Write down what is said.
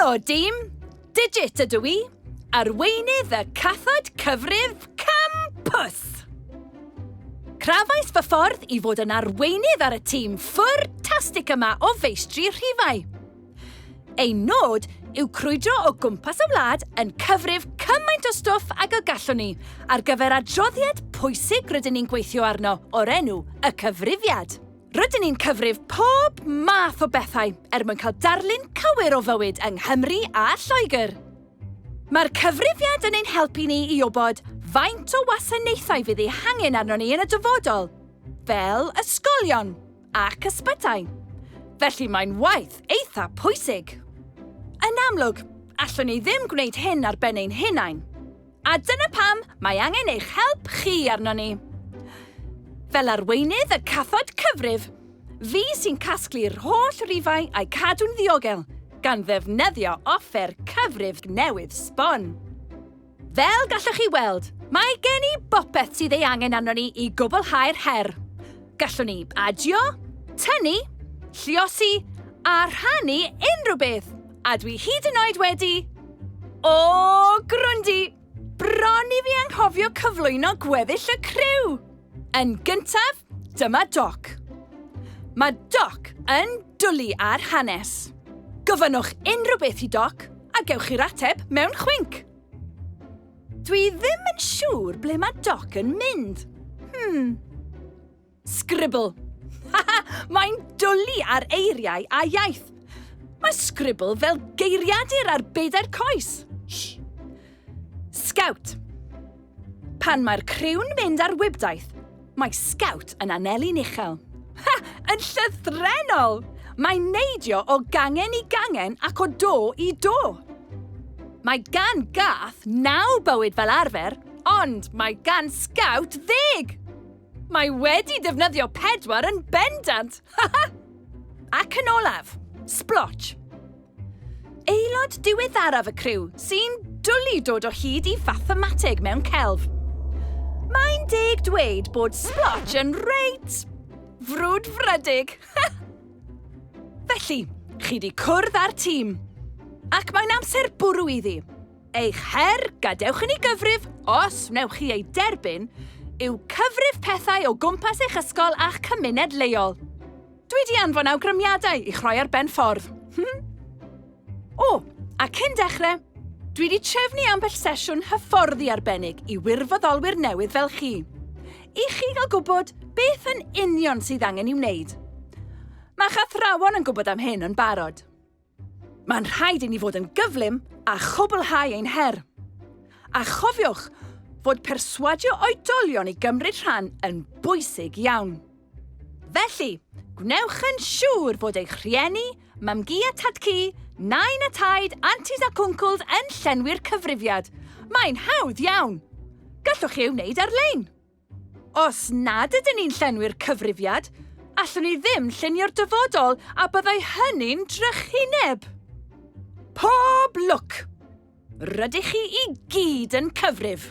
Helo, dim! Digit ydw i, arweinydd y cathod cyfrif campus! Crafais fy ffordd i fod yn arweinydd ar y tîm ffwrtastig yma o feistri rhifau. Ein nod yw crwydro o gwmpas y wlad yn cyfrif cymaint o stwff ag y gallwn ni ar gyfer adroddiad pwysig rydyn ni'n gweithio arno o'r enw Y Cyfrifiad. Rydyn ni'n cyfrif pob math o bethau er mwyn cael darlun cywir o fywyd yng Nghymru a Lloegr. Mae'r Cyfrifiad yn ein helpu ni i wybod faint o wasanaethau fydd eu hangen arnon ni yn y dyfodol, fel ysgolion, ac ysbytai. Felly mae'n waith eitha pwysig. Yn amlwg, allwn ni ddim gwneud hyn ar ben ein hunain. A dyna pam mae angen eich help chi arno ni. Fel arweinydd y cathod cyfrif, fi sy'n casglu'r holl rifau a'i cadw'n ddiogel, gan ddefnyddio offer cyfrif newydd sbon. Fel gallwch chi weld, mae gen i bopeth sydd ei angen arno ni i gwblhau'r her. Gallwn ni adio, tynnu, lliosi a rhannu unrhyw beth, a dwi hyd yn oed wedi... O, Grundy! Bron i fi anghofio cyflwyno gweddill y criw! Yn gyntaf, dyma Doc. Mae Doc yn dwlu ar hanes. Gofynnwch unrhyw beth i Doc a gewch chi'r ateb mewn chwinc. Dwi ddim yn siŵr ble mae Doc yn mynd. Hmm. Scribble. Haha, mae'n dwlu ar eiriau a iaith. Mae Scribble fel geiriadur ar bedair coes. Shh. Scout. Pan mae'r criw'n mynd ar wibdaith, mae Scout yn aneli'n uchel. Ha! Yn llythrenol! Mae'n neidio o gangen i gangen ac o do i do. Mae gan gath naw bywyd fel arfer, ond mae gan Scout ddeg! Mae wedi defnyddio pedwar yn bendant! Ac yn olaf, Splotch. Aelod diweddaraf y criw sy'n dwlu dod o hyd i fathemateg mewn celf. Mae'n deg dweud bod Splotch yn reit frwdfrydig. Felly, chi di cwrdd â'r tîm. Ac mae'n amser bwrw iddi. Eich her, gadewch i ni gyfrif, os wnewch chi ei derbyn, yw cyfrif pethau o gwmpas eich ysgol a'ch cymuned leol. Dwi 'di anfon awgrymiadau i'ch rhoi ar ben ffordd. Hm? O, a cyn dechrau, dwi 'di trefnu ambell sesiwn hyfforddi arbennig i wirfoddolwyr newydd fel chi, i chi gael gwybod beth yn union sydd angen i'w wneud. Mae'ch athrawon yn gwybod am hyn yn barod. Mae'n rhaid i ni fod yn gyflym a chwblhau ein her. A chofiwch fod perswadio oedolion i gymryd rhan yn bwysig iawn. Felly, gwnewch yn siŵr fod eich rhieni, mam-gu a tad-cu, nain a taid, antis ac wncwls yn llenwi'r cyfrifiad. Mae'n hawdd iawn! Gallwch chi ei wneud ar-lein. Os nad ydyn ni'n llenwi'r cyfrifiad, allwn ni ddim llunio'r dyfodol a byddai hynny'n drychineb. Pob lwc! Rydych chi i gyd yn cyfrif!